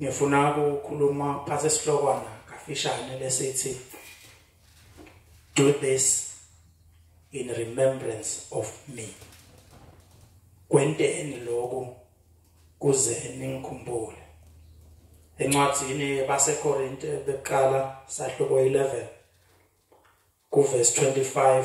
ngifuna ukukhuluma phansi esihlokwana kafishane lesithi do this in remembrance of me kwenteni lokhu kuze ningikhumbule encwadini basekorinte beqala sahluko 11 kuverse 25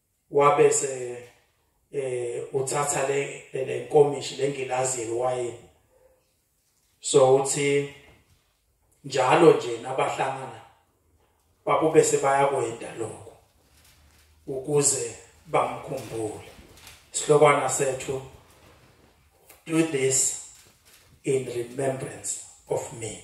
wabese eh uthatha le lenkomishi lengilazi yeliwayini so uthi njalo nje nabahlangana babube sebayakwenda lokho ukuze bamkhumbule sihlokwana sethu do this in remembrance of me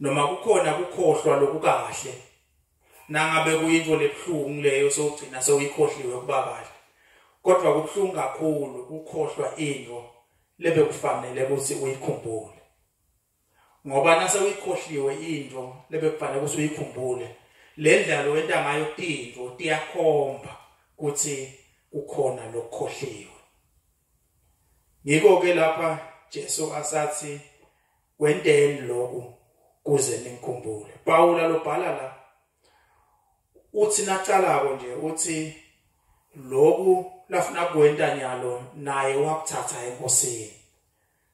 noma kukhona kukhohlwa lokukahle nangabe kuyinto lebuhlungu leyo sogcina sewuyikhohliwe kuba kahle kodwa kubuhlungu kakhulu ukukhohlwa into lebekufanele ukuthi uyikhumbule ngoba nase uyikhohliwe into lebekufanele ukuthi uyikhumbule le ndlalo wenta ngayo tinto tiyakhomba ukuthi kukhona lokukhohliwe Ngikho ke lapha Jesu asathi wenteni lokhu kuze nimkhumbule. Pawula lobhala la uthi nacalako nje uthi lokhu lafuna kwenta nyalo naye wakuthatha enkosini.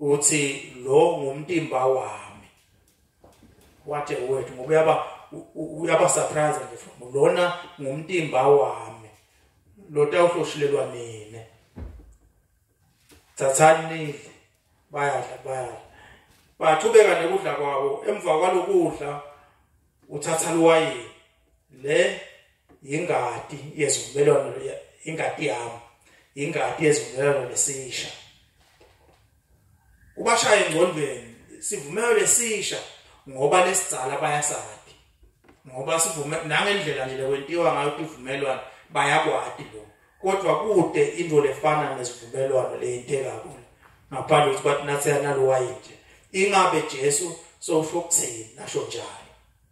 uthi lo ngumtimba wami what a word ngoba uyaba uyaba surprise nje from lona ngumtimba wami lo tawuhloshilelwa mina thathani nidle bayadla bayadla baqhubeka nekudla kwabo emva kwalokudla uthatha luwayini le yingadi yezivumelwano ingadi yami ingadi yezivumelwano lesisha ubashaya engcondweni sivumelwano lesisha ngoba lesizala bayasadi ngoba sivume nangendlela nje lekwentiwa ngayo ivumelwano bayakwadi lo kodwa kude into lefana nesivumelwano leyinteka kulo ngaphandle ukuthi bathi nathi yanalowayi nje ingabe Jesu sowusho ukuthini nasho njalo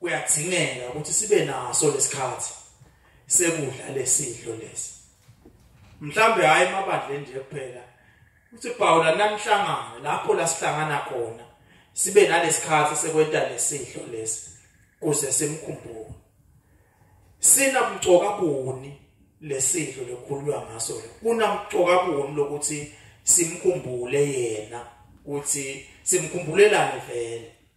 kuyadingeka ukuthi sibe naso lesikhathi sekudla lesidlo lesi mhlambe hayi emabandleni nje kuphela uthi Pawula namhlangano lapho la sihlangana khona sibe nalesikhathi sekwenta lesidlo lesi kuze simkhumbule sina mcoka buni lesidlo lokhulwa ngaso kuna mcoka buni lokuthi simkhumbule yena ukuthi simkhumbulelane vele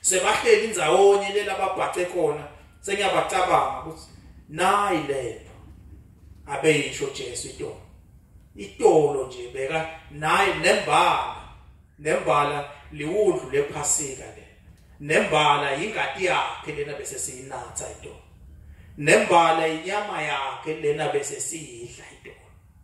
sebahleli ndzawonye lela babhace khona sengiyabacabanga ukuthi nayi lento abeyisho Jesu itolo itolo nje beka nayi nembala nembala liwudlu lephasika le nembala yingati yakhe lena bese siyinatha itolo nembala inyama yakhe lena bese siyidla itolo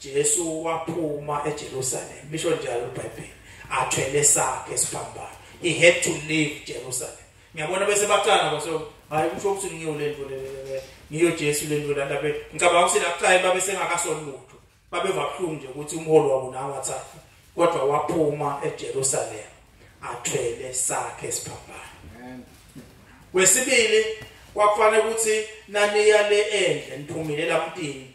Jesu waphuma eJerusalem lisho njalo iBhayibheli athwele sakhe siphambano he had to leave Jerusalem ngiyabona bese bacana baso hayi kusho ukuthi ngiyo lento le ngiyo Jesu lento la labe ngicabanga ukuthi lakuqala babe sengakasoli lutho babe vabuhlungu nje ukuthi umholi wabo nawo wathatha kodwa waphuma eJerusalem athwele sakhe siphambano amen wesibili kwakufanele ukuthi naniya le endle niphumile lamtini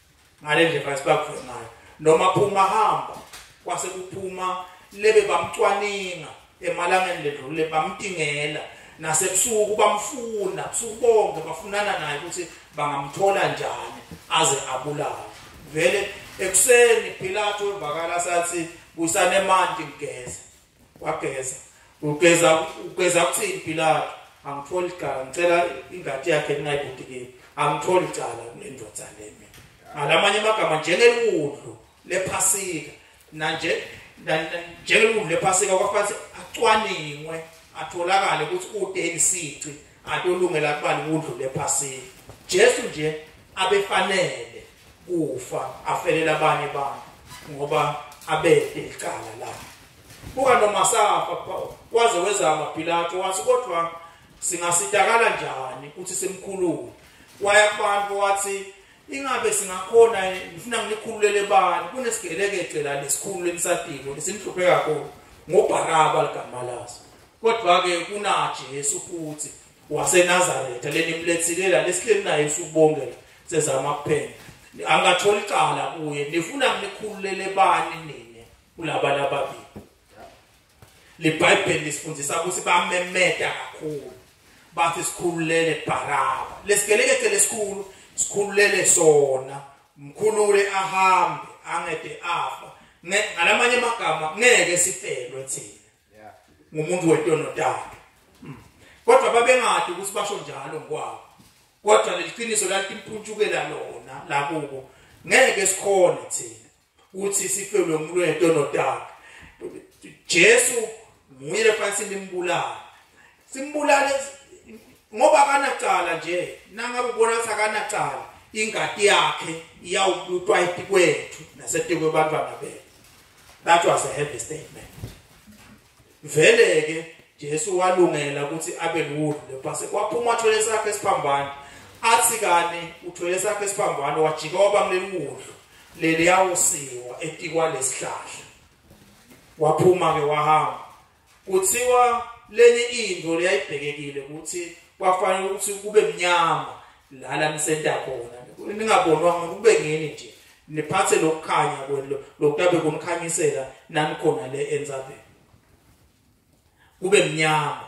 ngale ndlela esibakuvule ngayo noma phuma hamba kwase kuphuma lebe bamcwaninga emalangeni ledlule bamtingela nasebusuku bamfuna busuku bonke bafunana naye ukuthi bangamthola njani aze abulawe vele ekuseni Pilato evakala sathi buyisanemanti ngigeze wageza ugeza ugeza kuthini Pilato angitholi icala ngicela ingadi yakhe ningayibudikile angitholi icala lendoda le mina ngalamanye amagama njengeludlu lephasika nanje njengeludlu lephasika kwafanele acwaningwe atholakale ukuthi udeni sici atolungela kubani udlu lephasika Jesu nje abefanele kufa afelela abanye abantu ngoba abede icala la buka noma safa waze wezama Pilato wathi kodwa singasitakala njani ukuthi simkhulule waya kubantu wathi ingabe singakhona ngifuna ngilikhululele bani kunesigelekece la lesikhulu emsadiko lesimhluphe kakhulu ngoBaraba ligama laso kodwa ke kunaJesu futhi waseNazaretha leni mlethilela lesihleli naye usubongela sezama kuphela angatholi icala kuye nifuna nikhululele bani nini kulaba lababili libhayibheli lisifundisa ukuthi bamemeta kakhulu bathi sikhululele baraba lesigelekethe lesikhulu sikhululele sona mkhulule ahambe angede afa ngalamanye amagama ngeke sifelwe thina ngumuntu wetono takhe hmm. kodwa babengadi ukuthi basho njalo ngokwabo kodwa leliqiniso lalimpuntshukela lona lakubo ngeke sikhone thina ukuthi sifelwe umuntu wetono takhe Jesu nguye lefanele limbulala simbulale ngoba akanacala nje nangabe ubona ukuthi akanacala ingadi yakhe iyawuplutwa etikwethu nasetikwe bantwana bethu that was a heavy statement vele ke Jesu walungela ukuthi abe luwulu lepase kwaphuma thwele sakhe siphambana athi kani uthwele sakhe siphambana wajika waba kuleliwulu leli yawusiwa etikwa lesihlahla waphuma ke wahamba Kuthiwa leli into liyayibhekekile ukuthi kwafanele ukuthi kube mnyama la la nisenta khona ningabonwa ngoba kube ngini nje niphathe lokukhanya kwelo lokutabe kumkhanyisela nani khona le enzabeni kube mnyama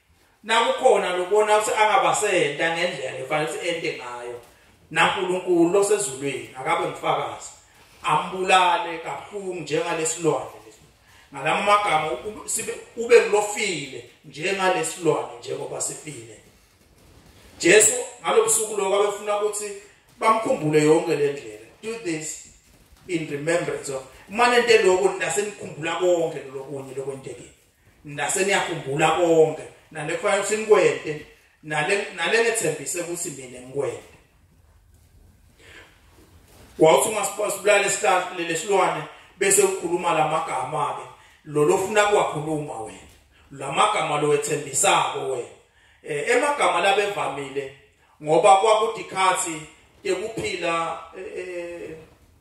nakukhona lobona ukuthi angabasenta ngendlela efanele ukuthi ente ngayo naNkulunkulu losezulwini akabe ngifakazi ambulale kabuhlungu njengalesilwane ngalama magama sibe ube kulofile njengalesilwane njengoba sifile Jesu ngalobusuku lokho abefuna ukuthi bamkhumbule yonke le ndlela do this in remembrance of manje into lokho nasenikhumbula konke lokunye lokwentekile nase niyakhumbula konke nale khona ukuthi nikwente nale nale nethembise ukuthi mina ngikwente wawuthi ungasibulala isihlahla lesilwane bese ukhuluma lamagama ke lo lofuna kwakhuluma wena lamagama lo wethembisako wena eh, emagama labevamile ngoba kwakudikhathi tekuphila eh, eh,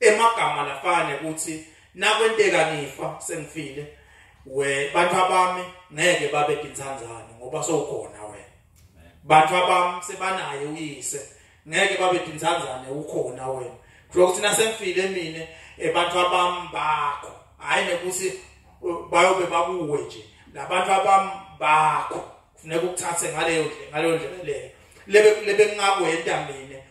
emagama lafane ukuthi nakwenteka ngifa sengifile we bantu abami ngeke babe dintsandzane ngoba sowukhona wena bantu abami sebanaye uyise ngeke babe dintsandzane ukhona wena kusho ukuthi nasengifile mina abantu abami bakho hayi nekuthi bayobe bakuwe nje labantu abami bakho kufuneka ukuthathe ngaleyo ngaleyo ndlela leyo lebe lebe ngingakwenta mina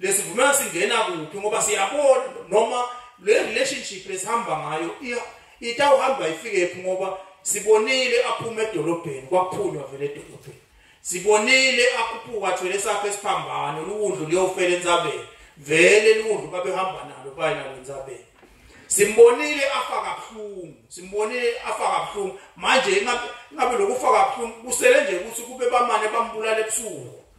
lesivumelwano singena kuphi ngoba siyabona noma le relationship lesihamba ngayo itawuhamba ifike phi ngoba sibonile aphuma edolobheni kwaphunywa vele edolobheni sibonile akhuphuka athwele sakhe esiphambano luwundlu liyofela entsabeni vele luwundlu babehamba nalo baye nalo entsabeni simbonile afa kabuhlungu simbonile afa kabuhlungu manje ingabe lokufaka kabuhlungu kusele nje ukuthi kube bamane bambulala ebusuku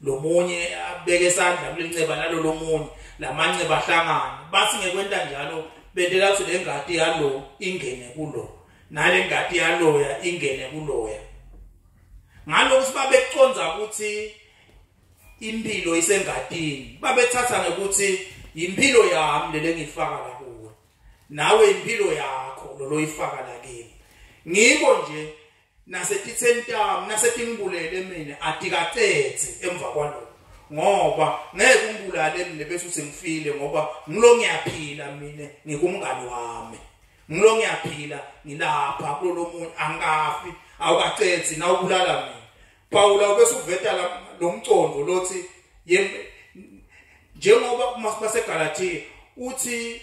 lomunye abeke isandla kulenxeba nalolo munye lamanxeba ahlangana bathi ngekwenta njalo bentela ukuthi le ngadi yalo ingene kulo nale ngadi yaloya ingene kuloya ngalokho sibabeconza ukuthi impilo isengadini babethatha ngokuthi impilo yami lele ngifaka la kuwe nawe impilo yakho loloyifaka la kimi ngiko nje nasetitsentam nasetingbulele mina atikacetse emva kwaloko ngoba ngeke ungibulale mina bese uthi ngifile ngoba ngilo ngiyaphila mina ngikumngani wami ngilo ngiyaphila ngilapha kulo muntu angikafi awukacethi na ubulala mina Paula ubese uveta lo mcondo lothi njengoba kumaseGalatia uthi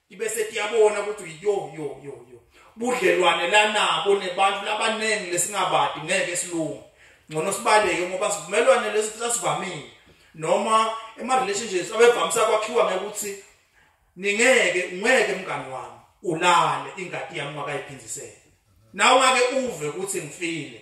ibe setiyabona ukuthi yo yo yo yo budlelwane lanabo nebantu labaningi lesingabadi ngeke silunge ngcono sibaleke ngoba sivumelwane lesi sasivamile noma ema relationships abevamisa kwakhiwa ngekuthi ningeke ngeke mngani wami ulale ingadi yami wakayiphindisele nawe ake uve ukuthi ngifile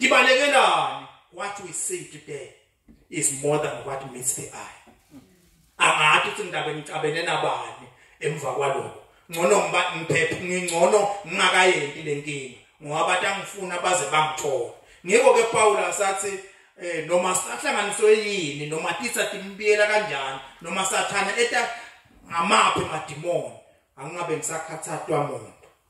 ngibalekelani what we see today is more than what meets the eye angathi ukuthi ngidaba ngicabene nabani emva kwaloko ngcono ngiba ngiphephe ngingcono ngingakayenti lenkinga ngoba abantu angifuna baze bangithola ngiko ke Paul asathi eh noma sahlanganiswe yini noma titsa timbiyela kanjani noma sathana eta ngamaphi madimoni angingabe ngisakhathathwa muntu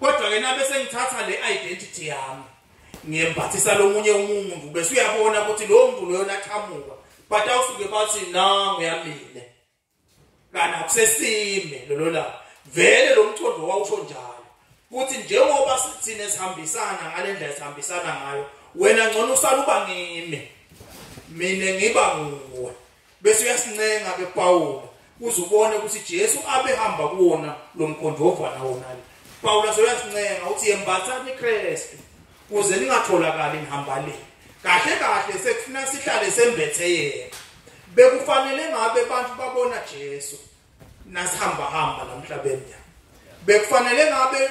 kodwa ke nabe sengithatha le identity yami ngiyembathisa lomunye umuntu bese uyabona ukuthi lo muntu loyo laqhamuka but awusuke bathi nangu yamile kana kusesime lolo la vele lo mthondo wawusho njalo ukuthi njengoba sithina sihambisana ngalendlela sihambisana ngayo wena ngcono usaluba ngimi mina ngiba nguwe bese uyasincenga ke Pawulu uze ubone ukuthi Jesu abehamba kuwona lo mkhonto wovana wona le Pawulu asoyasincenga uthi yembathani iKristu kuze ningatholakali nihamba le kahle kahle sekufuna sihlale sembethe yena bekufanele ngabe abantu babona Jesu nasihamba hamba namhlabeni bekufanele ngabe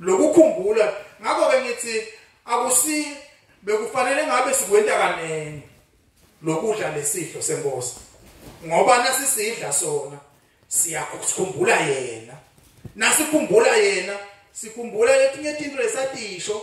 lokukhumbula ngakho ke ngithi akusi bekufanele ngabe sikwenta kanene lokudla lesidlo senkosi ngoba nasisidla sona siyakukhumbula yena nasikhumbula yena sikhumbula letinye tinto lesatiyisho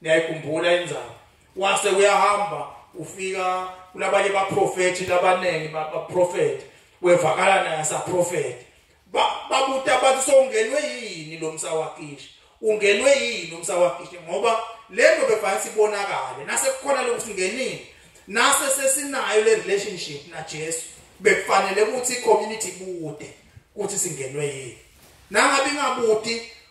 niyayikhumbula indzaba wase uyahamba ufika kulabanye baprofethi labaningi baprofethi wevakala naye saprofethi babuta bathi songenwe yini lo msawakisha ungenwe yini umsawakisha ngoba lento befanele sibonakale nase kukhona lokusingenini nase sesinayo le relationship na Jesu bekufanele ukuthi community bude ukuthi singenwe yini nangabe ingabuti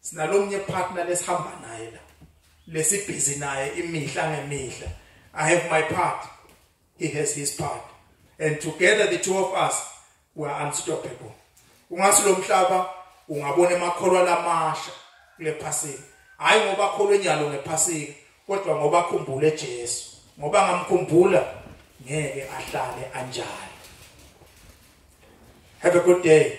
sinalomnye partner lesihamba naye la lesibhizi naye imihla ngemihla i have my part he has his part and together the two of us we are unstoppable ungasi lo mhlaba ungabona emakholwa lamasha kule phasika hayi ngoba akholwe nyalo ngephasika kodwa ngoba akhumbule Jesu ngoba ngamkhumbula ngeke ahlale anjalo have a good day